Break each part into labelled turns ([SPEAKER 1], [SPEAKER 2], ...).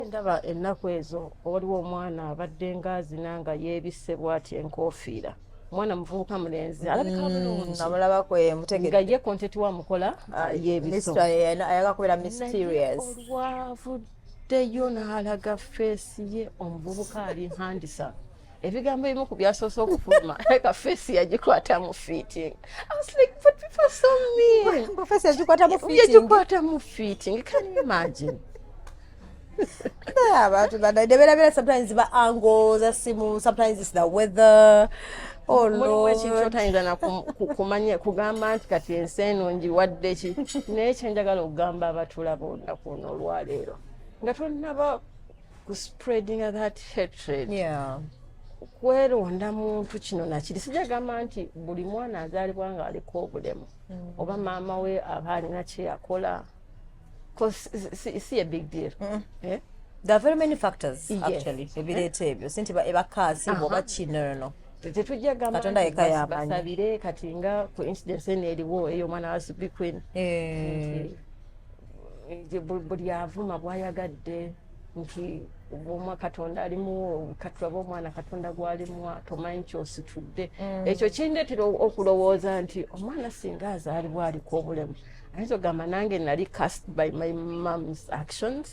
[SPEAKER 1] ndaba ennaku ezo waliwo omwana abadde ngaazina nga yeebisse bwati enkoofiira mwana muvubuka mulenzi alabika mm, bulungi namulabako ye mutegere
[SPEAKER 2] nga ye content wa
[SPEAKER 1] mukola ah, ah, yebiso ayaga kubera
[SPEAKER 2] mysterious wavuddeyo
[SPEAKER 1] n'alaga feesi ye omuvubuka ali handisa ebigambo ebimu ku byasoose okufuluma leka feesi yagikwata mu fiiting yagikwata
[SPEAKER 2] mu fiiting
[SPEAKER 1] can you imagine abantu
[SPEAKER 2] bana neberabera sometimes ba ango za simu sometimes is the weather oh mulimu ekintu otayinza nakumanya
[SPEAKER 1] kugamba nti kati ensi eno njiwadde ki naye kyenjagala okugamba abatulaba olunaku ono olwaleero nga tonaba ku spreadinga that hatred yeah.
[SPEAKER 2] kweronda
[SPEAKER 1] muntu kino nakiri sijja gamba nti buli mwana azaalibwa nga aliko obulemu mm. oba maama we aba alina kyeyakola si ye big deal mm. eh?
[SPEAKER 2] there are very many factors yes. actually eh? ebireeta ebyo si nti ebakaasi oba kinono tetujja
[SPEAKER 1] gambabasabire kati nga ku incidence eno eriwo eyo omwana wa subi queen eh. buli avuma bwayagadde nti obwomwa katonda alimuwo katulabe omwana katonda gwalimwa tomanyi kyositudde mm. ekyo kindetera okulowooza nti omwana singa azaalibwa aliko obulemu ayinza ogamba nange nali cast by my moms actions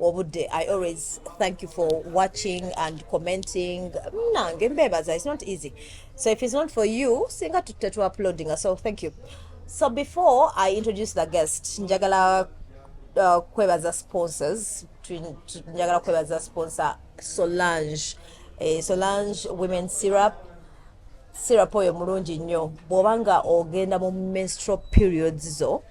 [SPEAKER 2] obudde i always thank you for watching and commenting nange mbebaza it's not easy so if it's not for you singa tutte tu uploading so thank you so before i introduce the guest njagala uh, kwebaza sponsors njagala kwebaza sponsor solange eh, solange women syrup syrup oyo mulungi nnyo bw'oba nga ogenda mu menstrual periods zo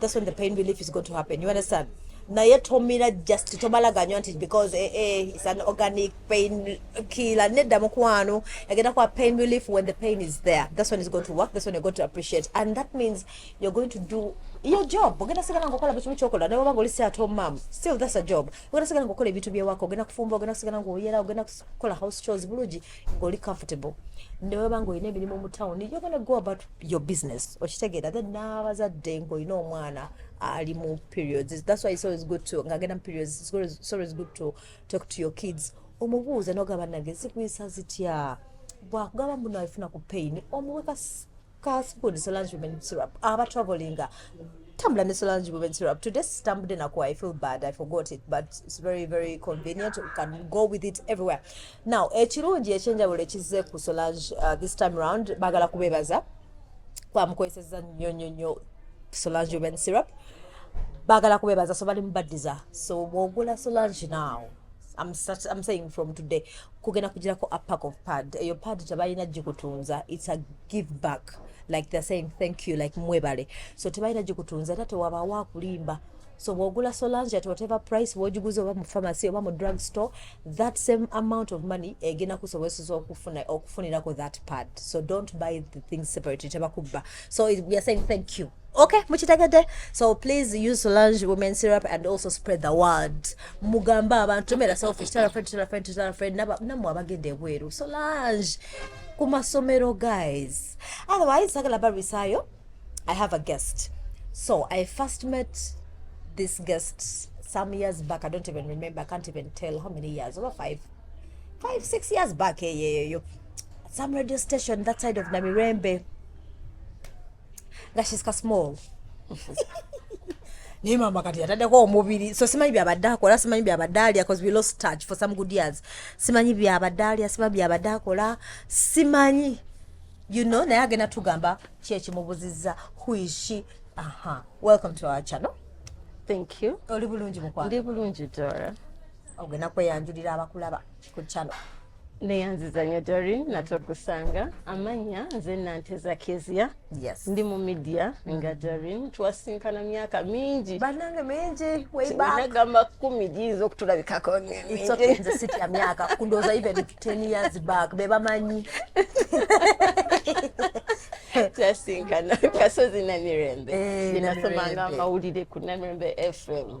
[SPEAKER 2] That's when the pain relief is going to happen. You understand? naye tomira just tobalaganywa nti because eh, eh, it's an organic pain killer nedda mukwano agenda kwa pain relief when the pain is there this one is going to work this one you're going to appreciate and that means you're going to do your job ogenda sigala nga okola bukimu kyokola naye obanga oli si ate omam still that's a job ogenda sigala nga okola ebintu byewaka ogenda kufumba ogenda sigala nga oyera ogenda kukola house chores bulungi ngoli comfortable neweba nga olina emirimu mu town you're gonna go about your business okitegeera then n'abazadde ng'olina omwana ali mu periods that's why it's always good to ng'agenda mu periods it's always, it's always good to talk to your kids omubuuza nogamba nange zikuyisa zitya bwakugamba mbuno alifuna ku pain omuweka Kaspood Solange Women Syrup aba travelinga tambula ne Solange Women Syrup today sitambudde nakuwa I feel bad I forgot it but it's very very convenient you can go with it everywhere now ekirungi ekyenjawulo ekizze ku Solange uh, this time round bagala kubebaza kwamukozeseza nnyo nnyo nnyo Solange Women Syrup bagala kubebaza so bali mubaddiza so bwogula Solange now I'm, such, I'm saying from today kugenda kugirako a pack of pad eyo pad tebalina gikutunza it's a give back like they're saying thank you like mwebale so tebalina gikutunza era tewabaawo akulimba so bwogula solange at whatever price bwogiguza oba mu pharmacy oba mu drug store that same amount of money egenda kusobozesa okufuna okufunirako that pad so don't buy the things separately tebakubba so we are saying thank you okay mukitegedde so please use solange women syrup and also spread the word mugambe abantu tomera selfish tell a friend tell a friend tell a friend namwe abagenda ebweru solange ku masomero guys otherwise sagala barwisayo i have a guest so i first met this guest some years back i don't even remember i can't even tell how many years over five five six years back eyeeyo eh, yeah, yeah, yeah. some radio station that side of namirembe nga she's ka small naye maama kati yataddeko omubiri so simanyi byabadde akola simanyi byabadde alya bcause we lost touch for some good years simanyi byabadde alya simanyi byabadde akola simanyi you know naye agenda tugamba kyekimubuziza huishi aha welcome to our channel thank
[SPEAKER 1] you oli bulungi mukwano ndi
[SPEAKER 2] bulungi dora
[SPEAKER 1] ogenda
[SPEAKER 2] kweyanjulira abakulaba ku channel neyanziza
[SPEAKER 1] nyo dori nate okusanga amanya nze nante zakezia yes. ndi mu
[SPEAKER 2] media
[SPEAKER 1] nga dorin twasinkana myaka mingi banange mingi
[SPEAKER 2] webagamba kumi giyinza
[SPEAKER 1] okutulabikako nze sitya
[SPEAKER 2] myaka kundoza even 10 years back bebamanyi
[SPEAKER 1] twasinkana kasozi namirembe eh, nenasomanga amawulire ku namirembe fm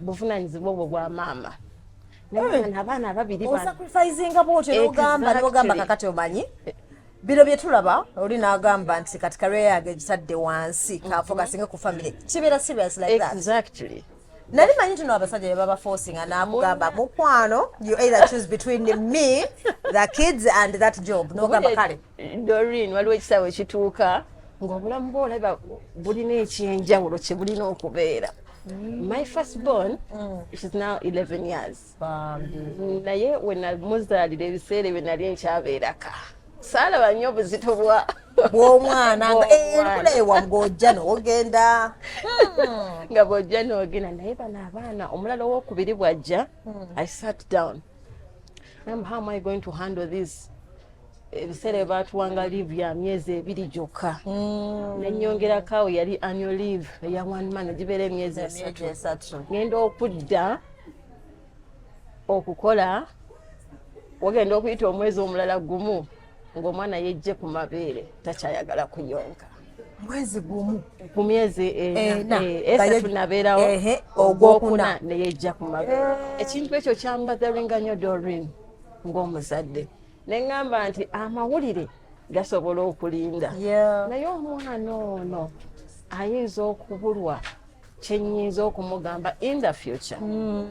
[SPEAKER 1] buvunanyizibwa obwo bwa maama eh. abaana ababiri osacrifisinga bwotyo
[SPEAKER 2] nogamba nogamba kakati omanyi bino byetulaba oli nagamba nti kati kareya yange egitadde wansi mhm. kafokasinge ku family kibeera serious like that exactly
[SPEAKER 1] nali manyi tino
[SPEAKER 2] abasajja bebaba forcing anamugamba mukwano you either choose between me the kids and that job nogamba kale Doreen waliwo
[SPEAKER 1] ekisawe ekituuka ng'obulamu bwo olaba bulina ekyenjawulo kye bulina okubeera mm. my first born mm. she's now 11 years naye wenamuzaalira ebiseera ebyo nali nkyabeeraka saalaba nnyo obuzito bwa bw'omwana
[SPEAKER 2] nga enkula ewa ng'ojja n'ogenda hmm.
[SPEAKER 1] nga bw'ojja n'ogenda naye bano abaana omulala ow'okubiri bw'ajja hmm. i sat down am how am i going to handle this ebiseera byebatuwanga leave ya myezi ebiri gyokka mm. nenyongerako awo yali annual leave eya one man egibeera emyezi esatu ngenda okudda okukola wagenda okuyita omwezi omulala gumu ng'omwana yejje ku mabeere takyayagala kuyonka mwezi
[SPEAKER 2] gumu ku myezi
[SPEAKER 1] esatu eh, nabeerawo ogwokuna neyejja ku mabeere eh. ekintu ekyo kyambatheringa nyo dorin ng'omuzadde ne ŋŋamba nti amawulire gasobola okulinda naye omwana ono ayinza okubulwa kyenyinza okumugamba in the future hmm.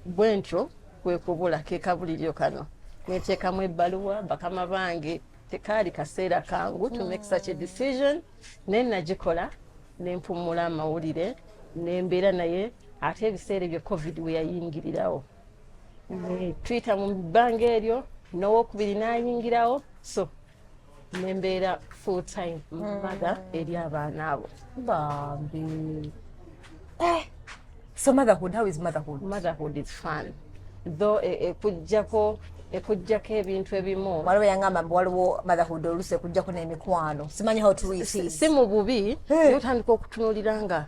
[SPEAKER 1] bwe ntyo kwekubula kekabuliryo kano neteekamu ebbaluwa bakama bange tekaali kaseera kangu to make hmm. such a decision naye nagikola nempumula amawulire nembeera naye ate ebiseera ebyo covid weyayingirirawo tuyita mu bbanga eryo nowokubiri nayingirawo so nembeera full time mother mm. eri abaana abo bambi
[SPEAKER 2] eh, so motherhood how is motherhood motherhood is fun
[SPEAKER 1] though e, e, ekujjako ekujjako ebintu ebimu waliwo yangamba mbu waliwo
[SPEAKER 2] motherhood olusi ekujjako n'emikwano simanyi how to si mu bubi
[SPEAKER 1] eh. otandika okutunulira nga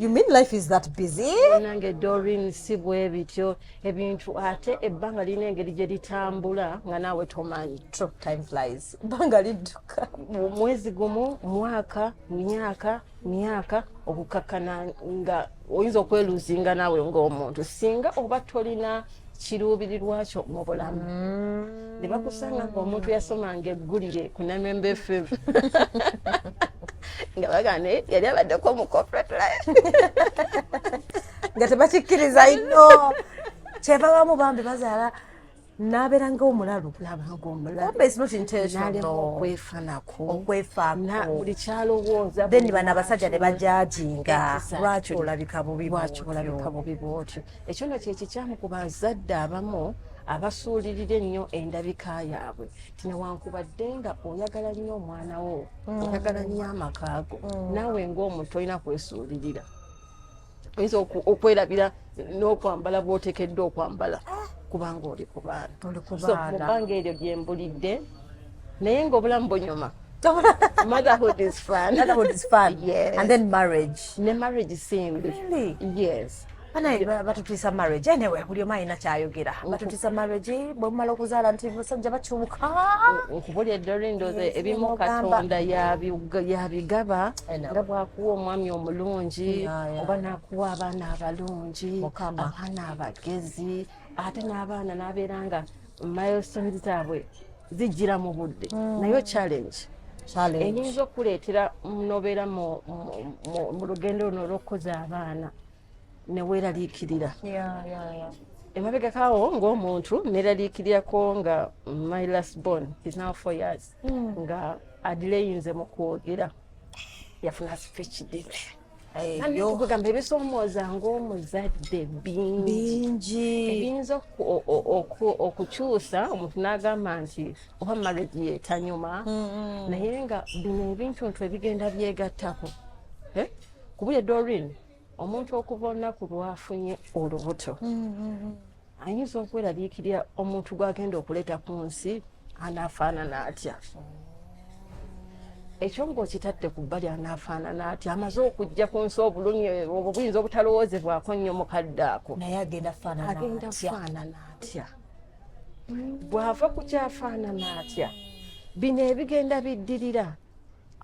[SPEAKER 2] You mean life is that busy? Nange Doreen
[SPEAKER 1] si bwe bityo ebintu ate ebbanga lirina engeri gye litambula nga naawe tomanyi. True, time flies.
[SPEAKER 2] Ebbanga lidduka. Mwezi gumu,
[SPEAKER 1] mwaka, myaka, myaka okukakkana nga oyinza okweluzinga naawe ng'omuntu singa oba tolina kiruubirirwa kyo mu bulamu mm. ne bakusanga nga omuntu yasomanga eggulire ku namembe fm nga bagane yali abaddeko mu corporate life
[SPEAKER 2] nga tebakikkiriza ino kyeva bamu bambi bazaala nabeera nga omulalu okwefanakobuli
[SPEAKER 1] kyalowooza then bano abasajja
[SPEAKER 2] ne bajajinga lwaki olabika bubi bwotyo
[SPEAKER 1] ekyo nno kyekikyamu ku bazadde abamu abasuulirira ennyo endabika yaabwe tinewankubadde nga oyagala nnyo omwana wo mm. oyagala nnyo amakaago mm. naawe ngaomuntu olina kwesuulirira oyinza okwerabira n'okwambala bwotekeddwa okwambala ah. kubanga oli ku baana mubanga eryo gyembulidde naye ngaobulamu bunyuma motherhood is fun motherhood is fun yes.
[SPEAKER 2] and then marriage ne marriage
[SPEAKER 1] simbi really? yes banaye batutiisa
[SPEAKER 2] marriage anyway buli omu alina kyayogera batutiisa marriage bwemumala okuzaala nti basajja bakyuka nkubuli
[SPEAKER 1] edorindoze ebimu katonda yabigaba nga bwakuwa omwami omulungi oba nakuwa abaana abalungi abaana abagezi ate n'abaana n'abeera nga milestone zaabwe zijjira mu budde mm. nayo challenge eyinza okuleetera nobeera mu lugendo luno olw'okukuza abaana neweeraliikirira emabegakawo ng'omuntu neeraliikirirako nga my last born is now four years mm. nga adireyinze mu kwogera yafuna speech date kugamba ebisoomooza ng'omuzadde bingi ebiyinza okukyusa omuntu n'agamba nti oba marriage yetanyuma naye nga bino ebintuntu ebigenda byegattako eh? kubuye dorin omuntu okuva olunaku lwafunye olubuto mm, mm, mm. ayinza okwerabiikirira omuntu gwagenda okuleeta ku nsi anaafaanana atya ekyo ngaokitadde ku bbali anaafaanana ati amaze okujja ku nsi obulumi obwo buyinza obutalowoozebwako nnyo mukadde ako naye agenda
[SPEAKER 2] faanana
[SPEAKER 1] atya bw'ava ku kyafaanana atya bino ebigenda biddirira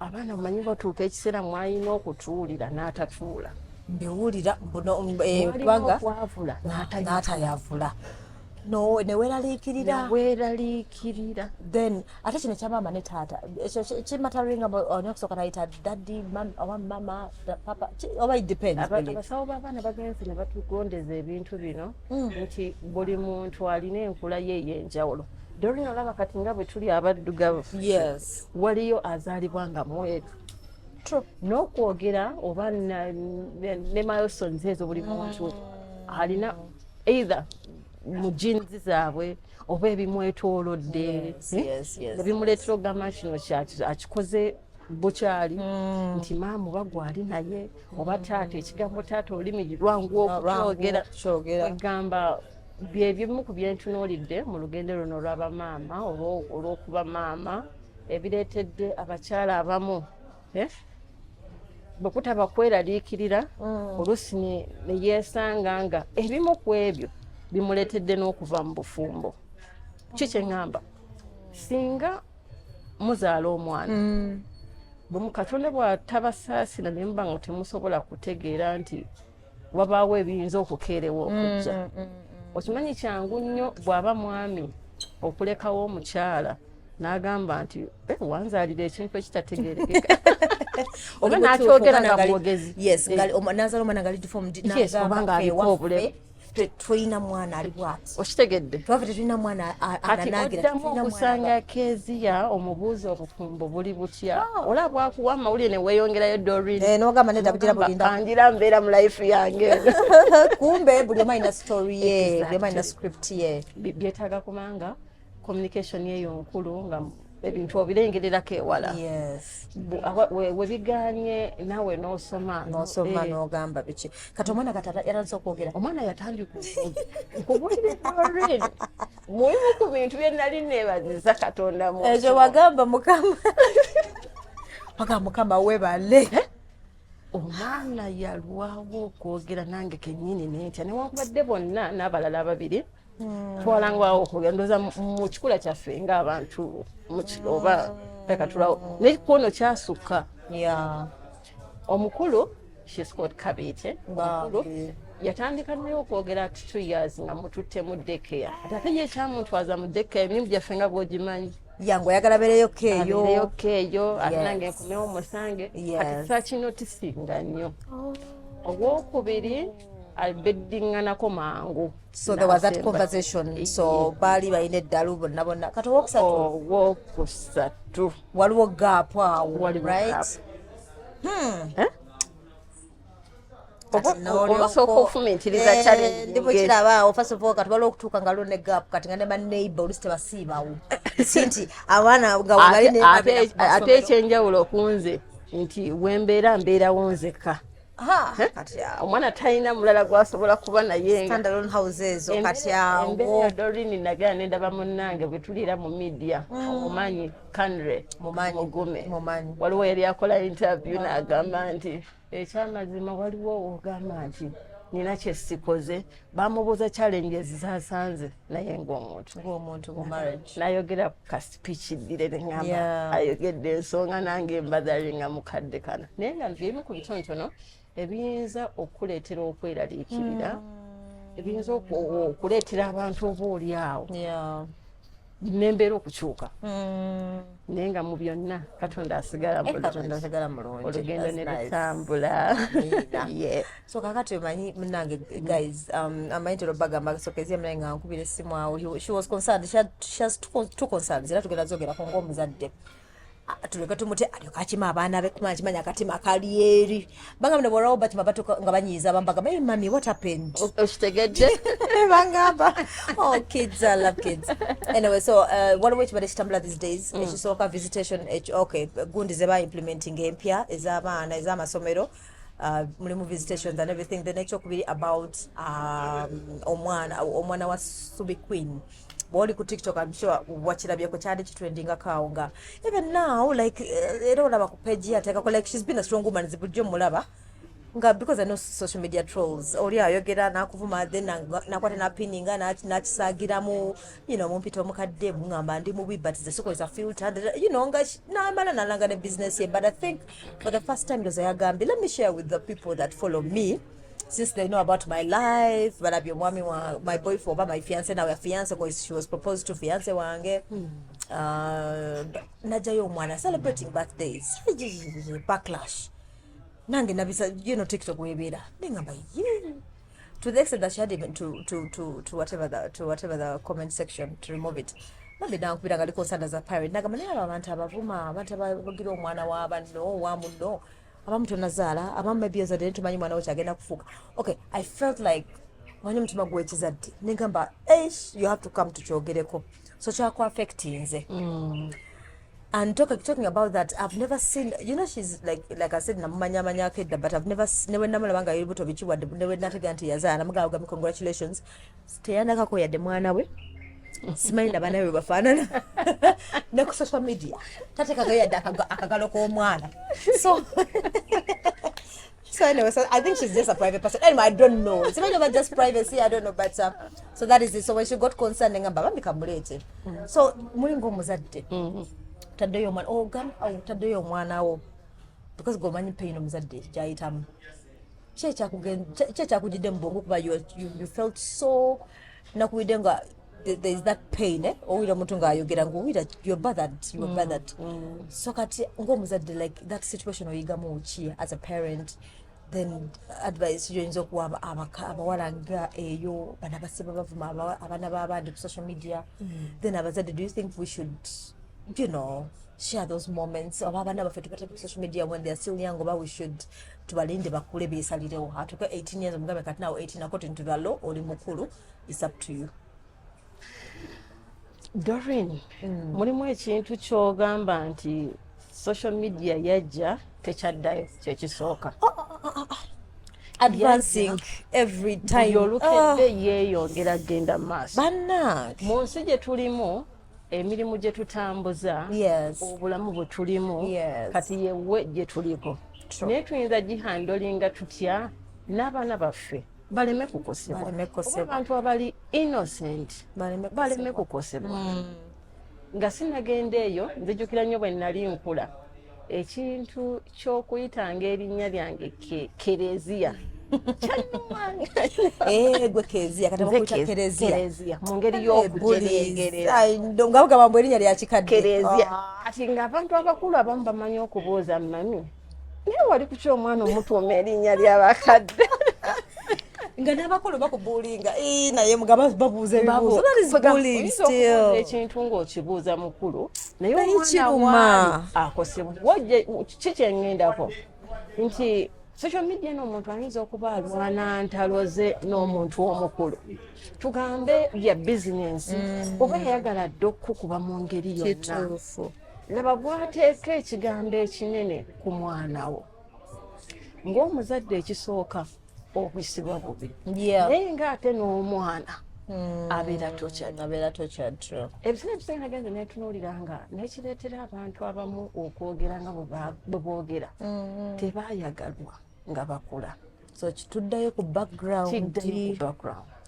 [SPEAKER 1] abaana omanyi batuuka ekiseera mwalina okutuwulira n'atatuula mbiwulira
[SPEAKER 2] mbunobaga eh,
[SPEAKER 1] n'atayavula
[SPEAKER 2] neweraliikirira weraliikirira then ate kino kyamaama ne taata ekyo kimataringa olina okusooka nayita daddi oba mama papa oba idependsawo babaana
[SPEAKER 1] bagenzi ne batugondeza ebintu bino hmm. nti buli muntu alina enkula ye eyenjawulo Doreen olaba kati nga bwe tuli abaddugavu yes. waliyo azaalibwa nga mweru n'okwogera oba ne milesons ezo buli muntu mm. alina either mu jinzi zaabwe oba ebimwetolodde ebimuleetera eh, okugamba kino akikoze bukyali mm. nti maamu bagwali naye oba taata ekigambo taata olulimi lwangu okukyogera egamba bye bimu ku byentunuulidde mu lugendo luno olwabamaama oba olw'okuba maama ebireetedde abakyala abamu eh, bwe kutaba kweraliikirira mm. oluusi ne yeesanga nga ebimu ku ebyo bimuleetedde n'okuva mu bufumbo ki kye ŋŋamba singa muzaala omwana mm. bwe mukatonda bw'atabasaasira ne muba nga temusobola kutegeera nti wabaawo ebiyinza okukeerewa okujja mm, mm, mm, okimanyi kyangu nnyo bw'aba mwami okulekawo omukyala n'agamba nti eh, wanzaalira ekintu ekitategerekeka oba n'akyogera nga mwogezi eh. nazaala
[SPEAKER 2] omwana nga lidifomdnazaalobanga
[SPEAKER 1] aliko obulemu tolina
[SPEAKER 2] mwana ali bwati okitegedde twava tetulina
[SPEAKER 1] mwana
[SPEAKER 2] ananagiraoddamu
[SPEAKER 1] okusanga keziya omubuuzi obufumbo buli butya ah. ola bwakuwa amawulire neweyongerayo dorinogamba eh, nedabugira
[SPEAKER 2] bulindaangira mbeera mu life
[SPEAKER 1] yange kumbe
[SPEAKER 2] buli omu alina story ye buli omu alina script ye byetaaga kubanga
[SPEAKER 1] communication eyo nkulu nga ebintu obirengererako ewala webiganye nawe nosoma nosoma eh. nogamba
[SPEAKER 2] biki kati omwana katayatandise okwogera omwana yatandika
[SPEAKER 1] okubulira muimu ku bintu byenali nebaziza katonda mu ekyo wagamba mukama
[SPEAKER 2] paka mukama webale eh?
[SPEAKER 1] omwana yalwawo okwogera nange kenyini nentya newankubadde bonna n'abalala ababiri na hmm. twalangwawo okwogera ndoza mu kikula kyaffe ngaabantu oba takatulawo naye kwono kyasukka omukulu shiscot kabiite omukulu yatandika naye okwogera ati two years nga mututte mu dekeya ati ate ye ekyamuntwaza mu dekeya emirimu gyaffe nga bwogimanyi yangu oyagala bereyo
[SPEAKER 2] keeyobereyo keeyo
[SPEAKER 1] ate nange nkomewo musange kati sakinotisiinga nnyo oh. ogwokubiri albedinganako mangu so there was that
[SPEAKER 2] conversation eh, so baali balina eddalu bonna bonna kati owokusatu oh, owokusatu
[SPEAKER 1] waliwo gaapu
[SPEAKER 2] awo right
[SPEAKER 1] hmm. eh? ndibukirabaawo first
[SPEAKER 2] of all kati waliwo okutuuka nga lwo ne gap kati nga ne baneighbor olusi tebasiibawo sinti abaana ngaate
[SPEAKER 1] ekyenjawulo okunze nti wembeera mbeerawo nzekka
[SPEAKER 2] omwana talina mulala
[SPEAKER 1] gwasobola kuba
[SPEAKER 2] nayedorini
[SPEAKER 1] nagera
[SPEAKER 2] nendaba
[SPEAKER 1] munange bwetulira mu media mm. omumanyi kanre mugume waliwo yali akola interview mm. nagamba nti ekyamazima waliwo ogamba nti nina kyesikoze bamubuuza challenges zasanze naye ngaomuntu
[SPEAKER 2] nayogera ku
[SPEAKER 1] pikidire nengamba ayogedde ensonga nange embadhalinga mukadde kana naye nga byebimu ku bitontono ebiyinza okukuleetera okweraliikirira mm. ebiyinza okuleetera abantu oba oli awo nembeera okukyuka mm. naye nga mu byonna katonda asigala eh, mulungi
[SPEAKER 2] olugendo ne
[SPEAKER 1] lutambula
[SPEAKER 2] so kakati omanyi munange guys um, amanyi tero bagamba sokezia mnaye nga nkubira essimu awo she was concerned she had, she has two, two concerns era tugenda zogerako ngaomuzadde ah, tuleke tumute alyoka akima abaana be kuma akimanya akatima kali eri banga mne borawo bakima batuka nga banyiiza bambaga hey mami what happened okitegedde
[SPEAKER 1] bangamba
[SPEAKER 2] oh kids i love kids anyway so uh, waliwo ekibadde kitambula these days mm. ekisooka visitation okay gundi zeba implementing empya ez'abaana ez'amasomero Uh, mulimu visitations and everything then ekyokubiri about um, omwana omwana wa subi queen bwoli ku tiktok am sure wakirabyeko kyali kitrendinga kawo nga even now like eh, era olaba ku page yatekako like she's been a strong woman zibujjo mulaba nga because i know social media trolls oli ayogera nakuvuma then nakwata napininga nakisagiramu you know mumpita omukadde mungamba ndi mubi but zesukoza filter you know nga namala nalanga ne business ye but i think for the first time ndoza yagambye let me share with the people that follow me since they know about my life balabye omwami wa my boyfriend oba my fiance nawe fiance because she was proposed to fiance wange mm. uh, najayo omwana celebrating birthdays backlash nange nabisa you know tiktok webeera nengamba ye to the extent that she had even to to to to whatever the to whatever the comment section to remove it bambi nankubira nga liko nsanda za pirate nagamba naye abo abantu abavuma abantu abagira omwana wa banno wa munno abamu tonazaala abamu maybe ozadde ne tumanyi mwana wo kyagenda kufuuka okay i felt like manyi omutima gwekizadde negamba eish you have to come tukyogereko so kyakuaffectinze mm. and talking, talking about that i've never seen you know she's like like i said namumanya manya kedda but i've never newe namulaba nga yebuto bikiwa newe natega nti yazaala namugaga congratulations teyanakako yadde mwana we simanyi naba nawe bafaanana ne ku social media tatekagayo yadde akagalo k'omwana so So anyway, so I think she's just a private person. Anyway, I don't know. It's not even just privacy. I don't know, but uh, so that is it. So when she got concerned, nga baba mikamulete. Mm. So mulingo muzadde. Mm. Taddeyo omwana oh gam au oh, taddeyo omwana wo because go manyi pain omuzadde kyayitamu. Kye kyakugenda kye kyakujidde mu bwongo kuba you you felt so nakuwidde nga there is that pain eh? owulira omuntu ngaayogera ngaowulira your bothered your mm, bothered mm. so kati ngaomuzadde like that situation oyigamu ki as a parent then advice yoyinza okuwa abawala nga eyo bana basiba bavuma abaana babandi ku social media mm. then abazadde do you think we should you know share those moments oba abaana baffe tubateka ku social media when they're still young oba we should tubalinde bakule besalirewo atuke 18 years omugambe kati nawo 18 according to the law oli mukulu It's up to you.
[SPEAKER 1] Doreen, mm. mulimu ekintu kyogamba nti social media yajja tekyaddayo kyekisooka oh, oh, oh,
[SPEAKER 2] advancing every time olukedde ah.
[SPEAKER 1] yeeyongera genda maaso bannange mu nsi
[SPEAKER 2] gye tulimu
[SPEAKER 1] emirimu gye tutambuza obulamu bwe tulimu kati yewe gye tuliko naye tuyinza gihandolinga tutya n'abaana baffe baleme kukosebwa abantu abali innocent baleme kukosebwa hmm. nga sinagenda eyo nzijukira nnyo bwe nali nkula ekintu ky'okuyitanga erinnya lyange kereziya
[SPEAKER 2] Eh, gwe keziya kati bakuta kereziya mu ngeri
[SPEAKER 1] y'okutereegererangabugamba
[SPEAKER 2] mbu erinnya lya kikadde kati
[SPEAKER 1] ng'abantu abakulu abamu bamanyi okubuuza mami naye wali kuki omwana omutuuma erinnya lyabakadde
[SPEAKER 2] nga n'abakulu bakubuulinga naye mugaba babuuza ebibuuzoekintu ng'okibuuza
[SPEAKER 1] mukulu naye omwana akosebwa kiki kyengendako nti social media n'omuntu ayinza okuba alwana ntalo ze n'omuntu omukulu tugambe bya bizinensi mm. oba yayagala dde okukukuba mu ngeri yonna laba bwateeka ekigambo ekinene ku mwana wo ng'omuzadde ekisooka obisibwa bubi naye ng'ate n'omwana hmm. abeera tokyabeera tokyatro ebiseera ebisinga nagenze netunuulira nga nekireetera abantu abamu okwogera nga bwe boogera hmm. tebayagalwa nga bakula so kituddayo
[SPEAKER 2] ku background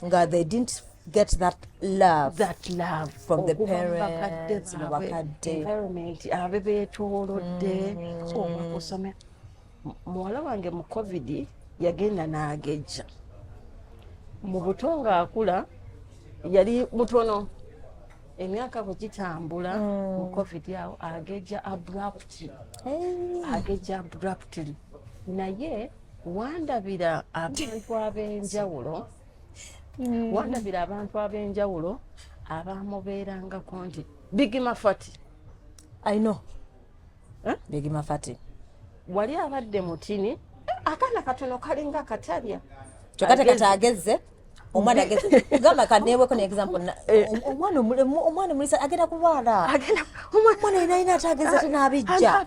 [SPEAKER 2] nga they didn't get that love that love from the parents mu bakadde
[SPEAKER 1] environment abe beetoolodde mm. oba kusomera muwala wange mu covid yagenda n'agejja mu buto ng'akula yali mutono emyaka bwe gitambula mm. mu covid awo agejja abruptly agejja abruptly naye wandabira abantu ab'enjawulo mm. wandabira abantu ab'enjawulo abamubeerangako nti bigimafati aino
[SPEAKER 2] eh? bigimafati wali
[SPEAKER 1] abadde mutini akaana katono kalinga katalya kyokka tekati
[SPEAKER 2] agezze omwana agamba kaneweko neexample eh. omwana omulisa agenda kulwala omwana yenayina ati ageza tinabijja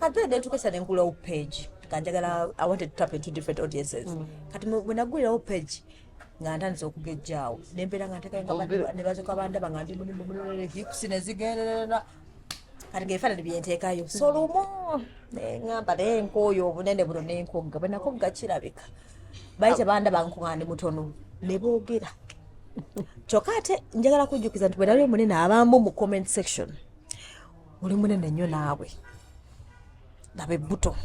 [SPEAKER 2] kati ade tukesa ne nkulawo page kanjagala i wanted to tap into different audiences mm. kati bwenagulirawo page nga ntandise okugejjaawo nembeera nga ntekanebazoka bandaba nga ndi mulimu mulolere hips nezigenderera kati ngaefaanani byenteekayo so mm. lumu neŋamba naye nkooyo obunene buno nenkogga bwenakogga kirabika bali tebandaba nkuga ndi mutono ne boogera kyokka ate njagala kujjukiza nti bwenali omunene abamu mu comment section oli munene nnyo naawe laba ebbuto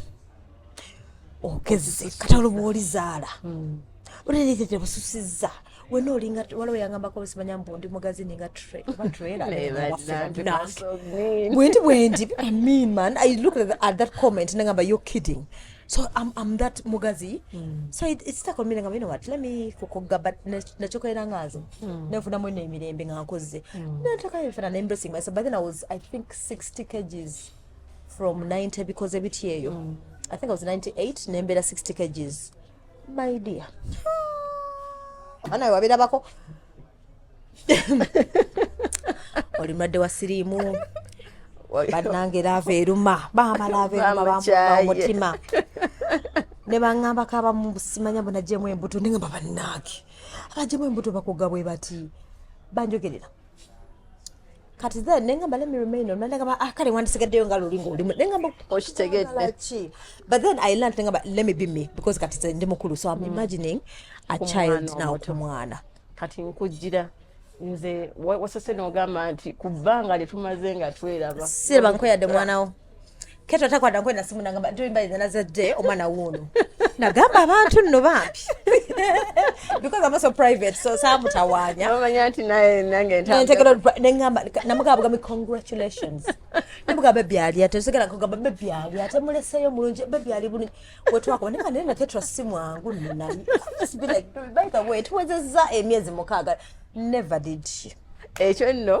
[SPEAKER 2] okezze kata oluba olizaala hmm. oneneetete bususizza wena olinga waliwo yangambako osimanya mbu ndi mugazini nga trailerwendi bwendi i mean man i look at that comment nengamba you're kidding so I'm, I'm that mugazi mm. so it, it's stuck on me nga you know what let me kukuga but nachokolera nga nze mm. nefuna mu ino emirembe nga nkozze mm. nataka nfuna na embracing myself but then I was I think 60 kgs from 90 because ebiti eyo mm. I think I was 98 nembera 60 kgs my dear ana wabirabako oli mulwadde wa siriimu bannange laava eruma maama laava eruma bamutima ne baŋambako abamu simanya bunajemu embuto neŋamba bannaage abajemu embuto bakuga bwe bati banjogerera kati the nengamba let me remain on nengamba ah kale wandisigaddeyo nga luli ng'oli nengamba okitegedde but then i learned nengamba let me be me because kati ze ndi mukulu so i'm mm. imagining a child now ku mwana kati nkujjira
[SPEAKER 1] nze wasose n'ogamba nti ku bbanga lye tumaze nga tweraba siraba nkweyadde
[SPEAKER 2] mwanawo keto takwata nkwenda simu nagamba ntoyimbalinza nazadde omwana wuuno nagamba abantu nno bambi because amaso private so samutawanya omanya nti naye
[SPEAKER 1] nange ntegera nengamba
[SPEAKER 2] namugamba bugambi congratulations namugamba bebi ali ate nsigala nkugamba bebi ali ate muleseyo mulungi bebi ali bulungi wetwakuba naye naye naketra simwangu nani by the way tuwezezza emyezi mukaaga never did she ekyo nno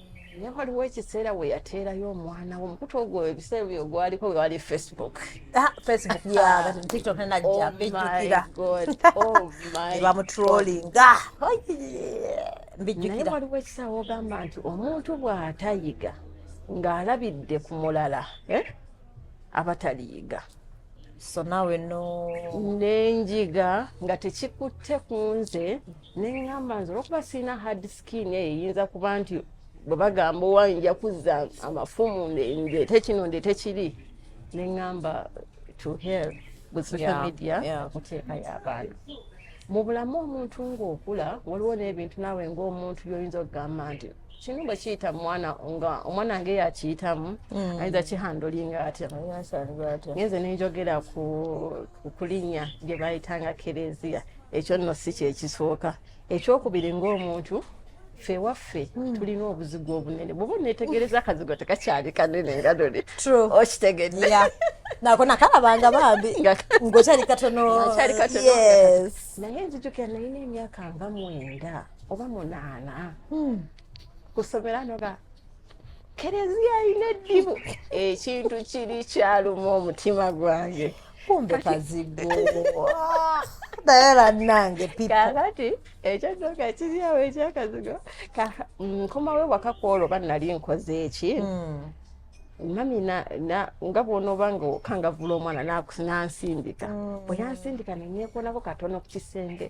[SPEAKER 1] naye waliwo ekiseera we yateerayo omwana wo omukutu ogwo ebiseera byo gwaliko wewali facebook ah, facebook
[SPEAKER 2] tiktok nenajja oh bijjukira
[SPEAKER 1] bamutrolinga oh mbijjukira naye waliwo ekisaawa ogamba nti omuntu bw'atayiga ng'alabidde ku mulala eh, abataliyiga so nawe
[SPEAKER 2] no nenjiga
[SPEAKER 1] nga tekikutte ku nze neŋŋamba nze olwokuba sirina hard sikini eyo eyinza kuba nti bwe bagamba owa nja kuzza amafumu ndeete kino ndeete kiri ne ŋŋamba to hell with social media muteeka y'abaana mu bulamu omuntu ng'okula waliwo n'ebintu naawe ng'omuntu byoyinza okugamba nti kino bwe kiyita mwana nga omwana nge yakiyitamu mm. ayinza kihandolinga atya ngenze nenjogera ku kulinya gye bayitanga kereziya ekyo nno si kyekisooka ekyokubiri ng'omuntu ffe waffe hmm. tulina obuzigu obunene bwoba onetegereza akazigo tekakyali kanene nga dole okitegedde nako
[SPEAKER 2] nakalabanga bambi ngaokyali katonokyali katono
[SPEAKER 1] naye nzijukira nalina emyaka nga mwenda oba munaana hmm. kusomera noga kereziya alina eddibu ekintu kiri kyaluma omutima gwange kumbe
[SPEAKER 2] kazigo naye bannange kakati
[SPEAKER 1] ekyadoka kiriawo ekyakazigo nkomawo ewaka kwolwo ba nali nkoze eki hmm. mami nga bwonoba nga okangavula omwana nansindika hmm. bwe yansindika nenyekonako katono ku kisenge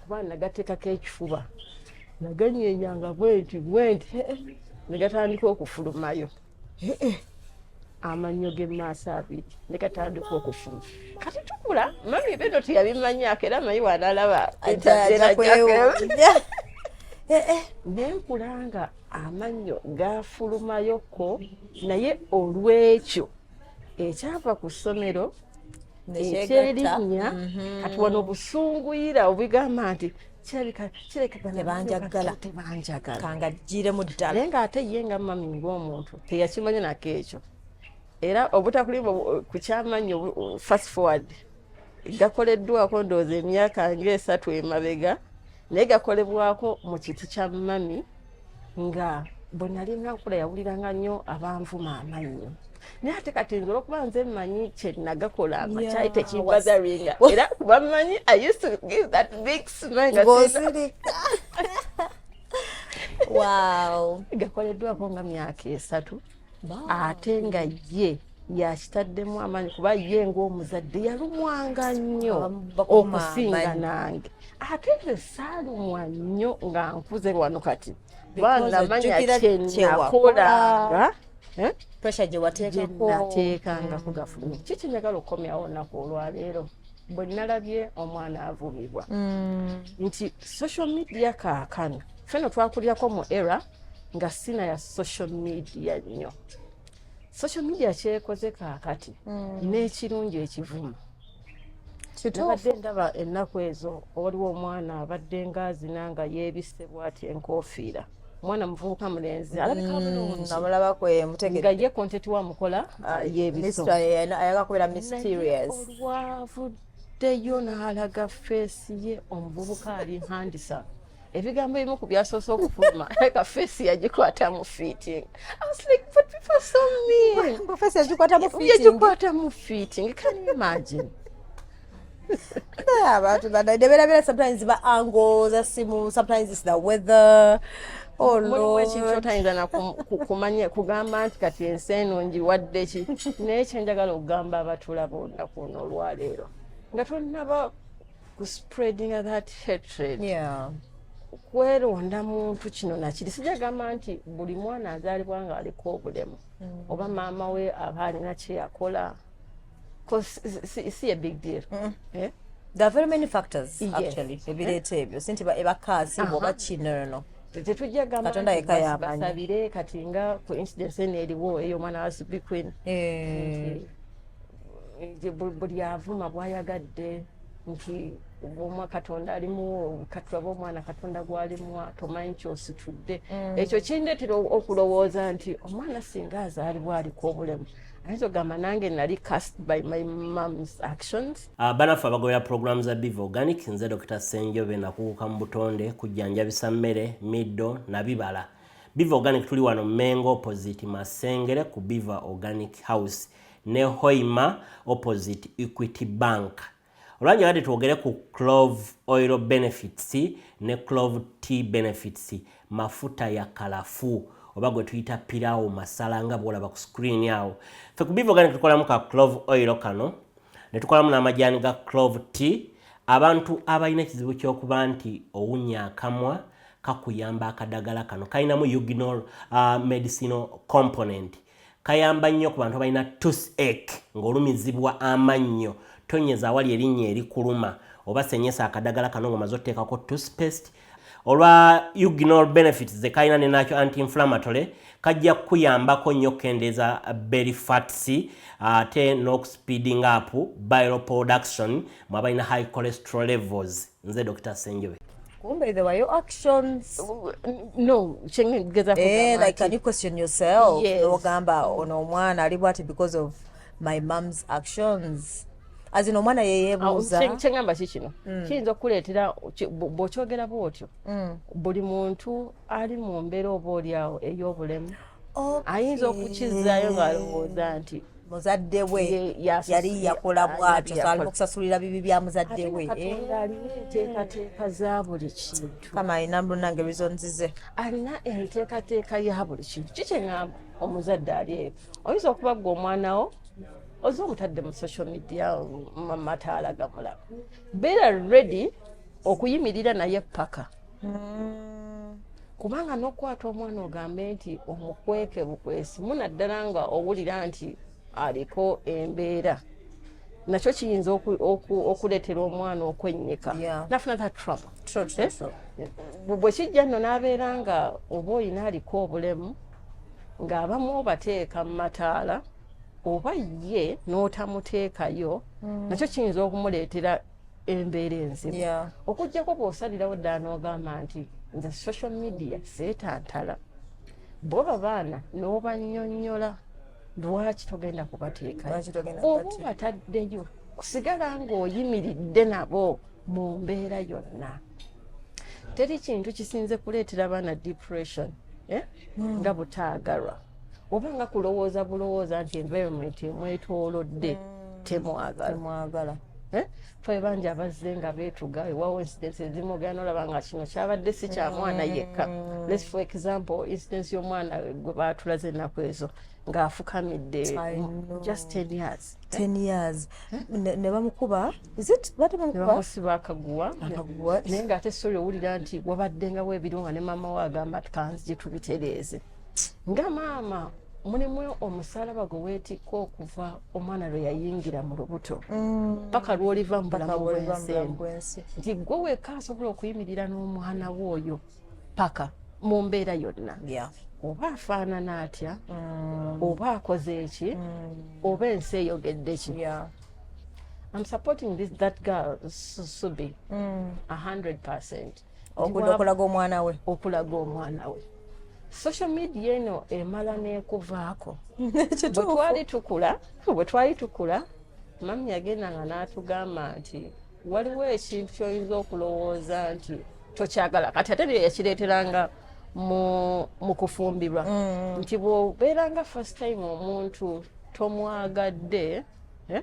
[SPEAKER 1] kuba nagateekako ekifuba naganyenyanga bwenti bwenti eh, eh, negatandika okufulumayo eh, amannyo g'emaaso abiri negatandika okufuluma kati tukula mami bino teyabimanyako era mayi wanalaba nenkulanga amannyo gafulumayoko naye olwekyo ekyava ku ssomero ekyerinnya mhm. kati wano obusunguyira obigamba nti
[SPEAKER 2] kirekatebanjagalakangaggiremu ddala naye ng'ate ye nga mami
[SPEAKER 1] ng'omuntu teyakimanya nako ekyo era obutakulimu ku kyamanyi fast forward gakoleddwako ndowooza emyaka ngaesatu emabega naye gakolebwako mu kiti kya mami nga bwe nalinga nkula yawuliranga nnyo abanvuma amannyo naye ate kati nze olwokuba nze mmanyi kyenagakola makyali tekibazaringa era kuba mmanyi i used to give that big smilngozirika
[SPEAKER 2] wow gakoleddwako nga myaka
[SPEAKER 1] esatu ate nga ye yakitaddemu amaanyi kuba ye ngaomuzadde yalumwanga nnyo okusinga nange ate nze saalumwa nnyo nga nkuze lwano kati banamanya kyenakolanga eh?
[SPEAKER 2] pressure gyewateekako nateekanga
[SPEAKER 1] kugafulumi kiki njagala okukomyawo naku olwaleero bwe nalabye omwana avumibwa mm. nti social media kaakano feno twakulirako mu era nga sina ya social media nnyo social media kyekoze kaakati mm. n'ekirungi ekivuma nabadde ndaba ennaku ezo waliwo omwana abadde ngaazina nga yeebisse bwati enkofiira mwana muvubuka mulenzi alabikaamulabako mm, mutegerenga ye kontenti wa mukola ah, yebisoayagakubera
[SPEAKER 2] mysterious olwavuddeyo
[SPEAKER 1] n'alaga feesi ye omuvubuka ali handisa ebigambo ebimu ku byasoose okufuluma leka feesi yagikwata mu fiiting yagikwata
[SPEAKER 2] mu fiiting
[SPEAKER 1] can you imagine
[SPEAKER 2] abantu bana neberabera sometimes ba ango za simu sometimes it's the weather oh, tayinza
[SPEAKER 1] nakumanya kugamba nti kati ensi eno njiwadde ki naye kyenjagala okugamba abatulaba olunaku ono olwaleero nga tonaba ku spreading that hatred yeah.
[SPEAKER 2] kweronda
[SPEAKER 1] muntu kino nakiri sijagamba nti buli mwana azaalibwa nga aliko obulemu mm. oba maama we aba alina kyeyakola Cause it's, it's a big deal. Mm. Yeah?
[SPEAKER 2] There are very many factors yes. actually. Ebireeta ebyo. Sinti ba ebakaasi uh -huh. boba chi no no no. tetujja
[SPEAKER 1] gambabasabire kati nga ku incidence eno eriwo eyo omwana wa subi queen eh. buli avuma bwayagadde nti omwa katonda alimuwo katulaba omwana katonda gwalimuwa tomanyi kyositudde mm. ekyo kindetera okulowooza nti omwana singa azaalibwa aliko obulemu ayinza ogamba nange nali cast by my moms actions ah, banaffe abagobera
[SPEAKER 3] pulogulaamu za biv organic nze dr senjobe nakuguka mu butonde kujjanjabisa mmere middo na bibala biv organic tuli wano mengo opposite masengere ku biva organic house ne hoima opposite equity bank olwanya yadde twogere ku clove oil benefits ne clove t benefits mafuta ya kalafu oba gwe tuyita pirawo masala nga bwolaba ku screen awo fe kubivoga ne tukolamu ka clove oil kano ne tukolamu n'amajaani ga clove t abantu abalina ekizibu ky'okuba nti owunya akamwa kakuyamba akadagala kano kalinamu uginal uh, medicinal component kayamba nnyo ku bantu abalina tusek ng'olumizibwa amannyo tonyeza awali erinnya erikuluma oba senyesa akadagala kano ngomaze oteekako tuspest olwa ugnol benefits zekalina nenakyo antiinflammatory kajja kukuyambako nnyo okukendeeza berry fats ate n'okuspeeding up bile production mwabalina high cholesterol levels nze dr senjobe kumbe there were your
[SPEAKER 2] actions no
[SPEAKER 1] chengeza eh
[SPEAKER 2] like can you question yourself yes. ogamba
[SPEAKER 1] ono omwana
[SPEAKER 2] ali bwati because of my mom's actions as in omwana yeyebuuza ah, kyengamba ki kino
[SPEAKER 1] mm. kiyinza okukuleetera bw'okyogera bw'otyo mm. buli muntu ali mu mbeera oba olyawo ey'obulemu ayinza okukizaayo ng'alowooza nti muzadde we
[SPEAKER 2] yali yakola bwatyo so alina okusasulira bibi bya muzadde we eh? enteekateeka
[SPEAKER 1] za buli kintu kama alina munange
[SPEAKER 2] reasons ze alina
[SPEAKER 1] enteekateeka ya buli kintu kikyeŋamba omuzadde ali eyo oyinza okuba gwe omwana wo oze omutadde mu social media mataala gamulaba beera ready okuyimirira naye paka mm. kubanga nokukwata omwana ogambe nti omukweke bukwesi munaddala nga owulira nti aliko embeera nakyo kiyinza okuleetera omwana okwennyika nafuna that trouble eh? bwe kijja nno n'abeera nga oba olina aliko obulemu ng'abamu obateeka mu mataala oba ye n'otamuteekayo mm. nakyo kiyinza okumuleetera embeera enzibu yeah. okujjako bwosalirawo ddala n'ogamba nti nze social media seetantala bo babaana n'obanyonyola lwaki togenda kubateekaooba bataddeyo kusigala ng'oyimiridde nabo mu mbeera yonna teri kintu kisinze kuleetera baana depression eh? mm. nga butaagalwa oba nga kulowooza bulowooza nti environment emwetoolodde mm. temwagala eh? fe bangi abazze nga beetuga ewawo incidence ezimu ogenda olaba nga kino kyabadde si kya mwana yekka mm. lets for example incidence y'omwana gwe baatulaze ennaku ezo ng'afukamidde just ten years ten years
[SPEAKER 2] eh? ne bamukuba bamusiba
[SPEAKER 1] akaguwa naye ng'ate sori owulira nti wabaddengawo ebiriwo nga ne maama we agamba tukanzi gye tubitereeze nga maama mulimu omusalaba gwe weetikka okuva omwana lwe yayingira mu lubuto mm. paka lw'oliva mu bulamu bwensi nti gwe wekka asobola okuyimirira n'omwana we oyo paka mu mbeera yonna oba afaanana atya mm. oba akoze eki mm. oba ensi eyogedde ki I'm supporting this that girl Susubi, mm. a hundred percent. okudda
[SPEAKER 2] okulaga omwana we okulaga omwana we
[SPEAKER 1] social media eno emala nekuvaako bwetwali tukula bwetwali tukula mami yagenda nga n'atugamba nti waliwo ekintu kyoyinza okulowooza nti tokyagala kati ate byo yakireeteranga mu kufumbirwa mm. nti bwobeeranga first time omuntu tomwagadde eh?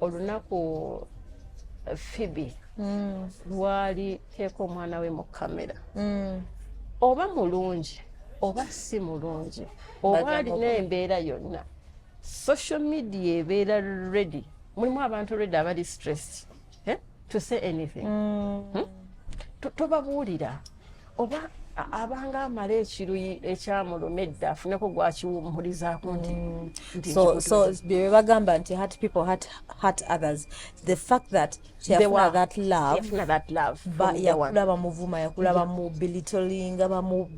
[SPEAKER 1] olunaku eh, fibi mm. lwali teeka omwana we mu kamera mm. oba mulungi oba si mulungi oba alina embeera yonna social media ebeera ready mulimu abantu ready abali stress eh? to say anything mm. hmm? tobabuulira oba abanga amala ekiruyi ekyamuluma edda afuneko gwakiwummulizaako nti mm.
[SPEAKER 2] byebagamba nti hat people hat hat others the fact that kyeyafuna that love yakula bamuvuma yakula bamubilitolinga bamu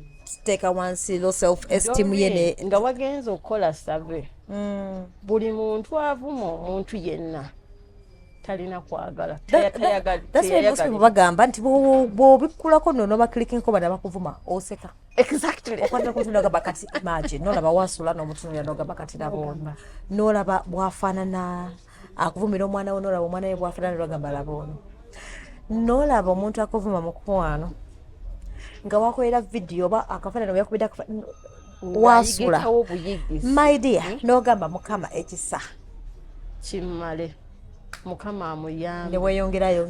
[SPEAKER 2] teeka wansi lo self esteem ye ne nga wagenze okukola
[SPEAKER 1] save mm. buli muntu avuma omuntu yenna talina kwagala
[SPEAKER 2] teyayagala bagamba nti bobikkulako no nobakilikinko bana bakuvuma oseka
[SPEAKER 1] exactly okwatira ku ntunaga
[SPEAKER 2] bakati imagine nolaba wasula n'omutunulira nogamba kati labona nolaba bwafaanana akuvumira omwana we nolaba omwana we bwafaanana nogamba labona nolaba omuntu akuvuma mukwano nga wakolera vidiyo oba akafaanana weyakubidde wasula my dear hmm? nogamba mukama ekisa
[SPEAKER 1] kimale mukama amuyambe neweyongerayo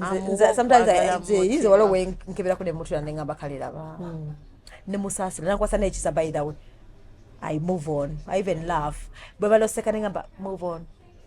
[SPEAKER 2] sometimes waliwo wenkeberaku nemutula nengamba kaliraba hmm. nemusaasira nakwasa nekisa by the way i move on i even love bwe baloseka nengamba move on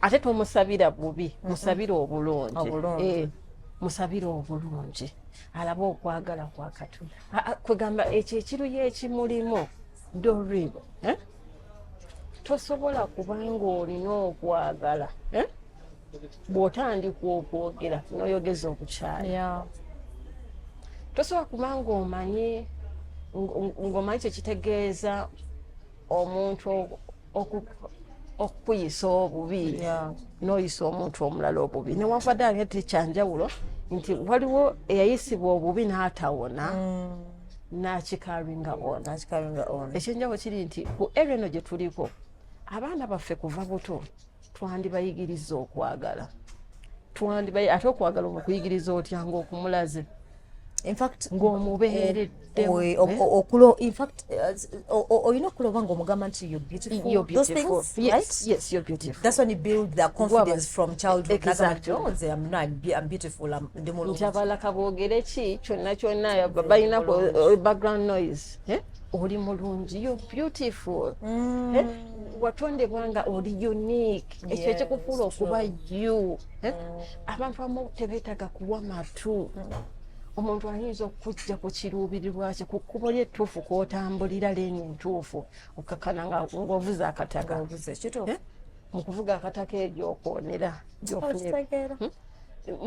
[SPEAKER 2] ate
[SPEAKER 1] tomusabira bubi musabira obulungi eh, musabira obulungi alaba okwagala kwakatonda kwegamba ekyo ekiruyo ekimulimu dorib eh? tosobola kubanga olina okwagala eh? bwotandika okwogera noyogeza okukyala tosobola kubanga omanyi ngomanyi kyekitegeeza omuntu okukuyisa obubi noyisa omuntu omulala obubi newavadde ange tekyanjawulo nti waliwo eyayisibwa obubi n'atawona mm. nakikaringa ona ekyenjawulo kiri nti ku ere eno gye tuliko abaana baffe kuva buto twandibayigiriza okwagala twandibayi ate okwagala okuyigiriza otya ngaokumulaze ng'omubeereddeokulina
[SPEAKER 2] okuloba ng'omugamba
[SPEAKER 1] nti
[SPEAKER 2] ntiabalaka boogere
[SPEAKER 1] ki kyonna kyonna balina background noise eh? oli mulungi you beautiful mm. eh? watondebwa nga oli unique ekyo ekikufuula okuba you eh? mm. abantu amu tebeetaga kuwa matu mm. omuntu ayinza okujja ku kiruubirirwa kye ku kkubo lyettuufu kwotambulira leeni entuufu okakana ngaovuza akataka eh? mu kuvuga akataka eryo okwonera gyofunira hmm?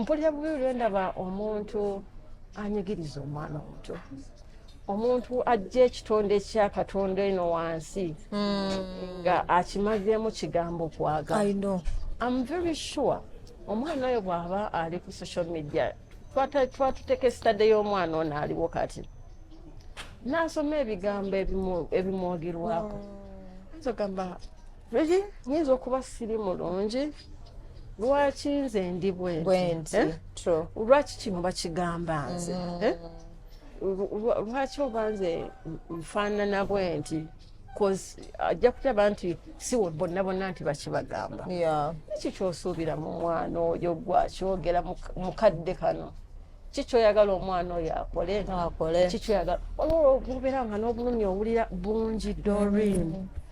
[SPEAKER 1] mpulira bubi lwendaba omuntu anyigiriza omwana omuto omuntu ajja ekitonde ekya katonda eno wansi hmm. nga akimazeemu kigambo kwagala am very sure omwana oyo bw'aba ali ku social media twatuteeka esitade y'omwana ono aliwo kati n'asoma ebigambo ebimwogerwako hmm. ayinza ogamba Regi nyinza okuba siri mulungi lwaki nze ndi bwenti eh? lwaki kino bakigamba nze mm. eh? lwaki oba nze nfaanana bwenti ajja kulaba nti si bonna bonna nti bakibagamba kiki kyosuubira mu mwana oyo gwakyogera mu kadde kano kikyoyagala omwana oyo akole kikyoyagala olwobubeera nga n'obulumi owulira bungi dorin mm.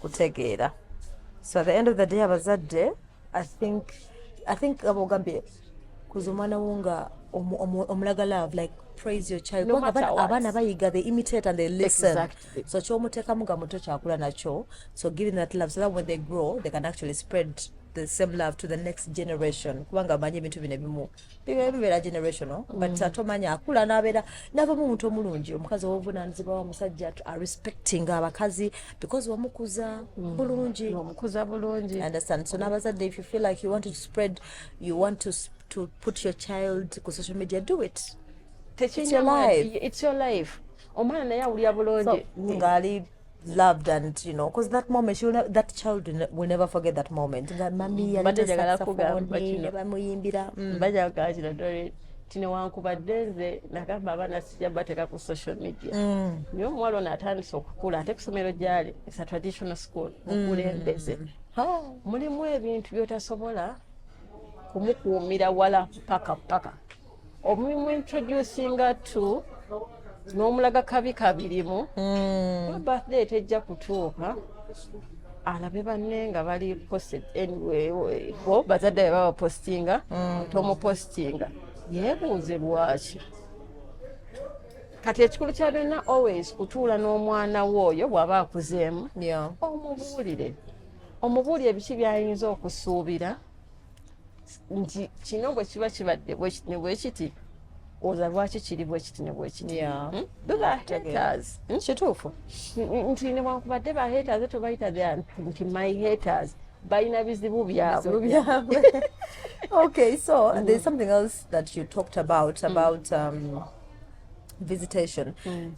[SPEAKER 2] kutegeera so at the end of the day abazadde i think i think aba ogambye kuza omwana wo nga omulaga love like praise your child no abaana bayiga they imitate and they listen exactly. so kyomuteekamu nga muto kyakula nakyo so giving that love so that when they grow they can actually spread the same love to the next generation kubanga amanyi ebintu bino ebimu bibeera generational mm. but uh, tomanya akula nabeera navamu omuntu omulungi omukazi owobunanizibwa wa musajja arespecting abakazi because wamukuza mm. bulungi wamukuza bulungi understand so nabazadde if you feel like you want to spread you want to, to put your child ku social media do it it's your
[SPEAKER 1] life omwana naye awulira bulungi ngaali
[SPEAKER 2] loved and you know because that moment she will ne- that child will ne- will never forget that moment nga mami yali Mbadde njagala saxophone,
[SPEAKER 1] kugamba kino. ne
[SPEAKER 2] bamuyimbira mm.
[SPEAKER 1] bajja kugamba kino
[SPEAKER 2] dore nti
[SPEAKER 1] newankubadde nze nagamba abaana sijja bateeka ku social media Mm. naye omuwala ono atandise okukula ate ku somero gyali esa traditional school mukulembeze Ha, mulimu ebintu byotasobola kumukuumira wala paka paka omulimu introducinga to n'omulaga kabi kabirimu hmm. birthday tejja kutuuka alabe banne nga bali posted anyway bo bazadde be babapostinga hmm. tomupostinga yeebuuze lwaki kati ekikulu kya byonna always kutuula n'omwana we oyo bw'aba akuzeemu omubuulire omubuulire biki by'ayinza okusuubira nti kino bwe kiba kibadde bwekiti ne bwekiti oza lwaki kiri bwekiti ne bwekiti hmm? hmm? kituufu
[SPEAKER 2] nti
[SPEAKER 1] newankubadde ba haters tobayita nti my haters balina bizibu byabwe
[SPEAKER 2] okay so there's something else that you talked about about um, visitation mm.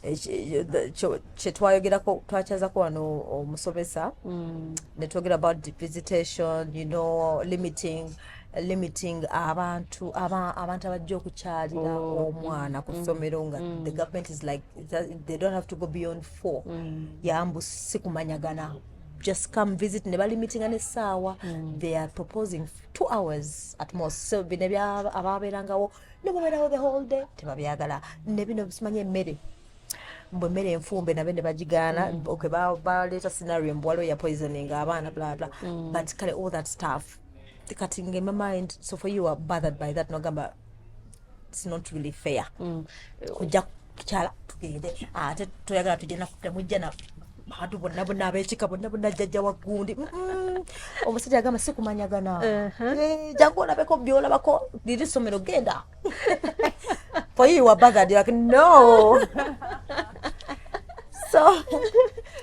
[SPEAKER 2] kyetwayogerako twakyazako wano omusomesa mm. netwogera about the visitation you know limiting limiting abantu abantu abajja okukyalira oh. omwana mm. ku ssomero nga the government is like they don't have to go beyond four yambu sikumanyagana just come visit ne balimitinga n'essaawa they are proposing two hours at most so bino abaabeerangawo nebaberawo the whole day tebabyagala nebino bisimanya emmere mbu emmere enfumbe nabe ne bagigaana mm. okay baleeta scenario mbu waliwo ya poisoning abaana blabla mm. but kale all that stuff kati nge my mind so for you are bothered by that nogamba it's not really fair mm. kujja tukyala tugende ate toyagala tujja temujja na bantu bonna bonna abekika bonna bonna jjajja wa gundi omusajja agamba si kumanyagana eh, jangu olabeko byolabako liri somero genda foyiwa bagadi like no so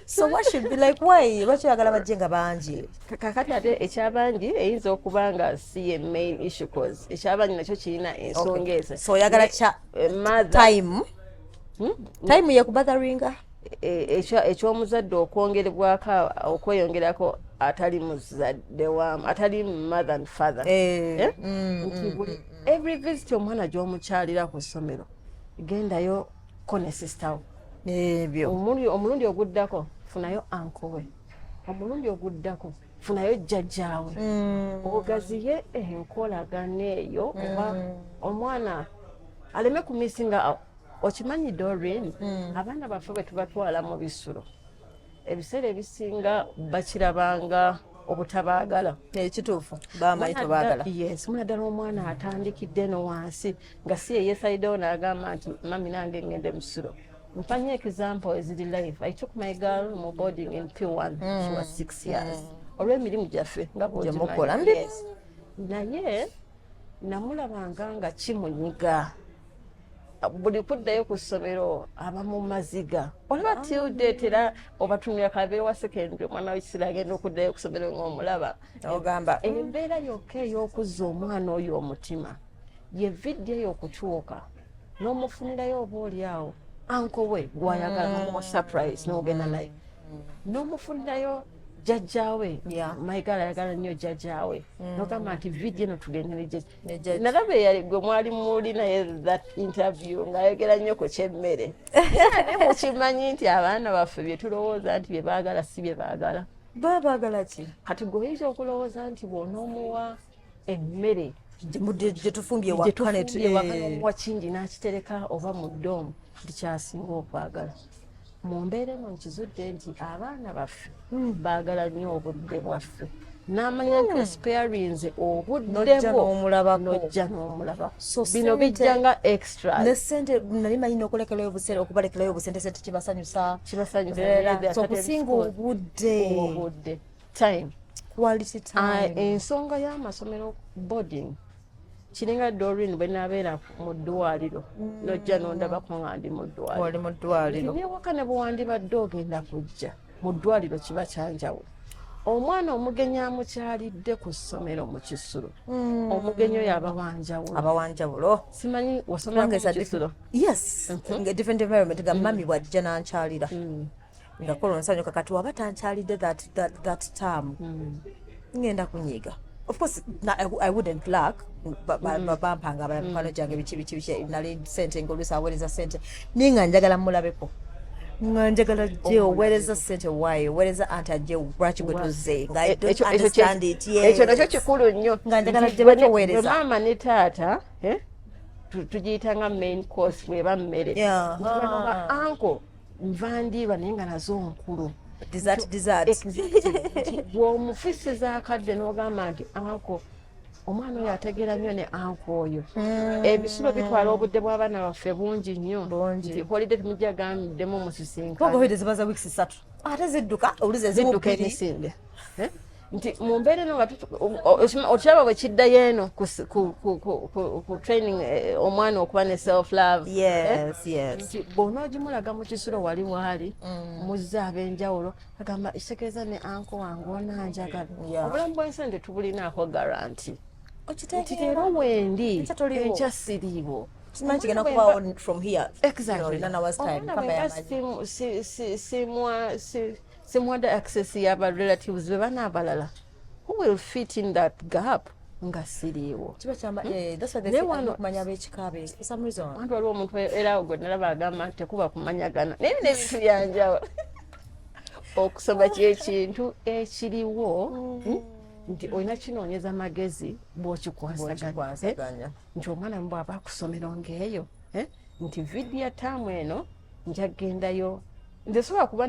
[SPEAKER 2] so what should be like why lwaki oyagala bajje nga bangi kakati ate
[SPEAKER 1] ekyabangi eyinza okuba nga si ye main issue cause ekyabangi nakyo kirina ensonga ezo so oyagala
[SPEAKER 2] eh, time hmm? time yekubatharinga e,
[SPEAKER 1] ekyomuzadde okwongerebwako okweyongerako atali muzadde wamu atali mother and father eh, eh? Mm, mm, nti buli mm, every visit omwana gyomukyalira ku ssomero gendayo ko ne sister wo ebyo
[SPEAKER 2] omulundi
[SPEAKER 1] oguddako funayo ankowe omulundi oguddako funayo jjajjaawe mm. ogaziye enkolagana eyo oba mm. omwana aleme kumisi nga okimanyi dorin mm. abaana baffe bwe tubatwala mu bisulo ebiseera ebisinga bakirabanga obutabaagala ekituufu
[SPEAKER 2] bamayi tebagala yes muna ddala omwana
[SPEAKER 1] atandikidde no wansi nga si eyesayidewo naagamba nti mami nange ngende musiro Mfanyie example eziri live. I took my girl mu boarding in P1. Mm. She was six years. Mm. Olw'emirimu gyaffe nga bwogimukola. Yes. Naye namulabanga nga kimunyiga. buli kuddayo ku ssomero aba mu maziga olaba ah. tilde tera obatumira kabeere wa sekendi omwana wekisira agenda okuddayo ku ssomero ngaomulaba ogamba
[SPEAKER 2] embeera yokka
[SPEAKER 1] ey'okuzza omwana oyo omutima ye vidiyo eyo okutuuka n'omufunirayo oba oli awo anko we gwayagala nomuwa mm. surprise nogenda naye mm. n'omufunirayo jajjawe maigala ayagala nnyo jajjawe mm. nogamba nti vidio eno tugende nalaba eyali gwe mwali muli naye that interview ngaayogera nnyo ku kyemmere naye mukimanyi nti abaana baffe byetulowooza nti byebaagala si byebaagala baba baagala ki
[SPEAKER 2] kati gweoyinza
[SPEAKER 1] okulowooza nti bwonoomuwa emmere gyetufumbye
[SPEAKER 2] wakanomuwa
[SPEAKER 1] kingi n'akitereka oba mu doomu nti kyasinga okwagala mu mbeera eno nkizudde nti abaana baffe hmm. baagala nnyo obudde bwaffe n'amanya nti hmm. sparinze obuddebwonojja n'omulabakobino bijja nga extra ne sente nali
[SPEAKER 2] manyi n'okulekerayo obusente okubalekerayo obusente sente kibasanyusa kibasanyusaokusinga obudde obudde time
[SPEAKER 1] quality ah,
[SPEAKER 2] time uh, ensonga ya
[SPEAKER 1] masomero boarding kiringa dorin bwe nabeera mu ddwaliro mm. nojja nondabako nga ndi mu ddwaliro mu ddwaliro newaka ne bwewandibadde ogenda kujja mu ddwaliro kiba kyanjawulo omwana omugenyi amukyalidde ku ssomero mu kisulo mm. omugenyi oyo abawanjawulo abawanjawulo
[SPEAKER 2] simanyi
[SPEAKER 1] wasomera ku kisulo yes mm
[SPEAKER 2] -hmm. different environment ga mm. mami bwajja nankyalira mm. ngakola omusanyo kakati waba tankyalidde that, that, that term mm. ngenda kunyiga of course na, I, i wouldn't luck bampanga abala mikwano gyange biki biki biki nali sente ngaoluusi aweereza sente naye nga njagala mulabeko nga njagala je oweereza sente wayo oweereza anti ajje lwaki gwe tuze ngaekyo nakyo kikulu
[SPEAKER 1] nnyo nga njagala je batoweereza
[SPEAKER 2] maama ne taata
[SPEAKER 1] tugiyita nga main course bweba mmere anko nva ndiirwa naye nga nazo nkulu
[SPEAKER 2] bwomufisiza
[SPEAKER 1] akadde n'ogamba nti anko omwana oyo ategeera nnyo ne anko oyo hmm. ebisulo bitwala obudde bw'abaana baffe bungi nnyo holide temujja gamdemu musisinkaabaza wiiki satu
[SPEAKER 2] ate zidduka oluzi eziwuka emisinde
[SPEAKER 1] eh? nti mu mbeera eno nga okiraba bwe kiddayo eno ku training eh, omwana okuba ne self love eh? nti bwona ogimulaga mu kisulo wali waali mm. muzze ab'enjawulo agamba kitegeeza ne anko wange onanjagala obulamu bwensi nti tubulinaako garanti nti leero wendi enkya siriiwo kimanyi kigenda kubawo
[SPEAKER 2] from here exactly. you know, nana was time
[SPEAKER 1] kama ya maji semwada access yaba relatives bebana abalala who will fit in that gap nga siriiwo
[SPEAKER 2] wantu waliwo
[SPEAKER 1] omuntu erawo gwe nalaba agamba nti tekuba kumanyagana naye bino ebintu byanjawulo okusoma kyekintu ekiriwo mm. hmm? nti olina kinoonyeza magezi bwokikwasaganya eh? nti omwana mu bwaba akusomero ngaeyo eh? nti vidiyo taamu eno njagendayo nze sobola kuba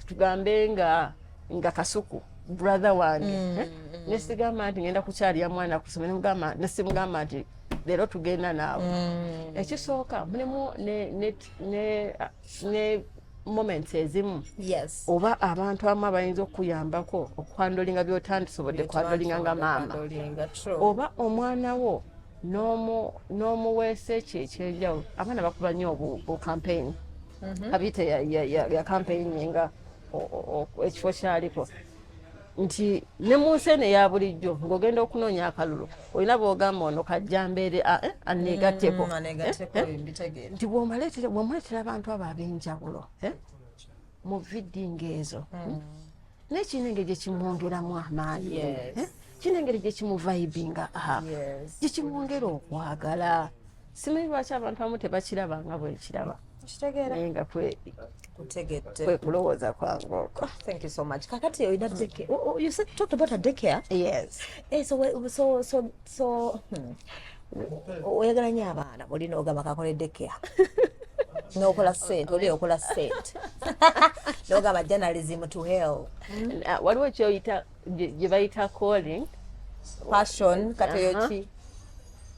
[SPEAKER 1] tugambe nga nga kasuku brother wange mm, eh? mm. nesigamba nti ngenda kukyalira mwana kusoma nemugamba nesimugamba nti leero tugenda naawe mm. ekisooka mulimu ne moments ezimu yes. oba abantu amu abayinza okukuyambako okwandolinga byotandisobodde kwandolinga nga maama oba omwana wo n'omuweesa ekyo ekyenjawulo abaana bakuba nnyo obukampeyini mhm. kabite ya kampeyini nga ekifo kyaliko nti ne mu nsi eno eya bulijjo ng'ogenda okunoonya akalulu olina bwogamba ono kajjambeere ah, eh, aneegatteko mm, eh, eh, nti bwomuleetera abantu abo ab'enjawulo mu vidinga ezo mm. naye kirina engeri gye kimwongeramu amaanyi kirina engeri gye kimuvayibinga ah, gye kimwongera okwagala simanyi lwaki abantu abamu tebakiraba nga bwekiraba naye nga kwekulowooza kwange okwo kakati
[SPEAKER 2] olina oyagala nyo abaana olina ogamba kakole dekea nokola sente oli okola sente nogamba journalism to hell uh, waliwo
[SPEAKER 1] kyoyita gyebayita calling passion
[SPEAKER 2] katoyoki uh-huh.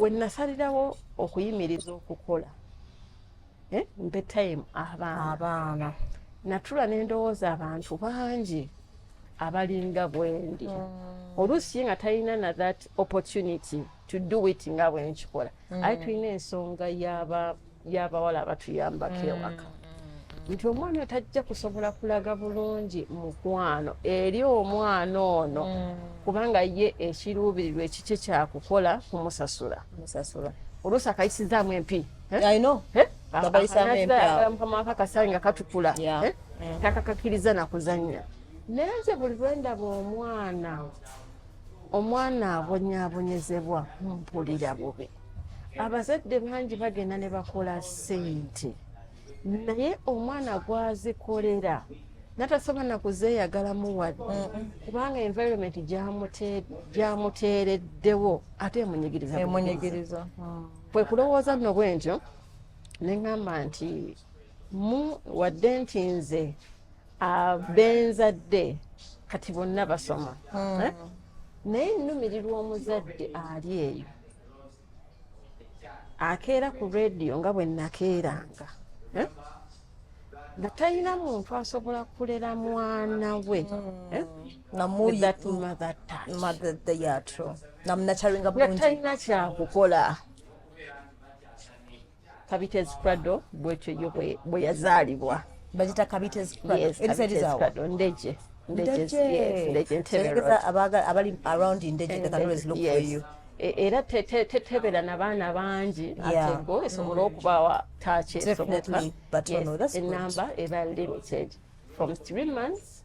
[SPEAKER 2] wenasalirawo
[SPEAKER 1] okuyimiriza okukola eh, mpe time abaana natula nendowooza abantu bangi abalinga bwendi mm. oluusi nga talina na that opportunity to do it nga bwenkikola mm. aye tulina ensonga yaba y'abawala abatuyambako mm. ewaka nti omwana oyo tajja kusobola kulaga bulungi mukwano eri omwana ono mm. kubanga ye ekiruubirirwa ekikye kyakukola kumusasula oluusi akayisizaamu empi
[SPEAKER 2] eh?
[SPEAKER 1] eh? mukama wakakasayi nga katukula eh? mm. takakakiriza nakuzannya naye nze buli lwendaba omwana omwana abonyabonyezebwa mpulira bubi abazadde bangi bagenda ne bakola ssente naye omwana gwazikolera natasobola nakuzeeyagalamu wadde kubanga environment gyamuteereddewo ate emunyigiriza hmm. kwe kulowooza nno bwe ntyo ne ŋŋamba nti mu wadde nti nze abenzadde kati bonna basoma hmm. eh? naye nnumirirwa omuzadde ali eyo akeera ku rediyo nga bwe nakeeranga eh? nga talina muntu asobola kulera mwana we eh?
[SPEAKER 2] namunatalina kyakukola
[SPEAKER 1] kabitezi prado bwetyo yo bwe yazaalibwa bagita kabitezi prado
[SPEAKER 2] ndeje e, era
[SPEAKER 1] tetebera nabaana bangi atego esobola mm. okubawa taaki esoboka
[SPEAKER 2] enamba
[SPEAKER 1] eba limited from three months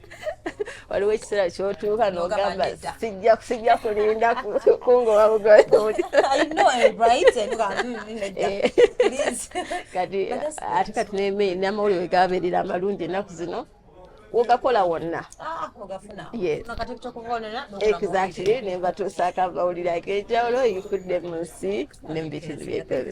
[SPEAKER 1] waliwo ekiseera kyotuuka nogamba sijja sijja kulinda kungoba bugoyoti kati ate kati neme namawulire gabeerera amalungi ennaku zino wogakola wonna ah, exactly ne mbatuusaako amawulire ag'enjawulo yifudde mu nsi ne mu bitundu byekwebi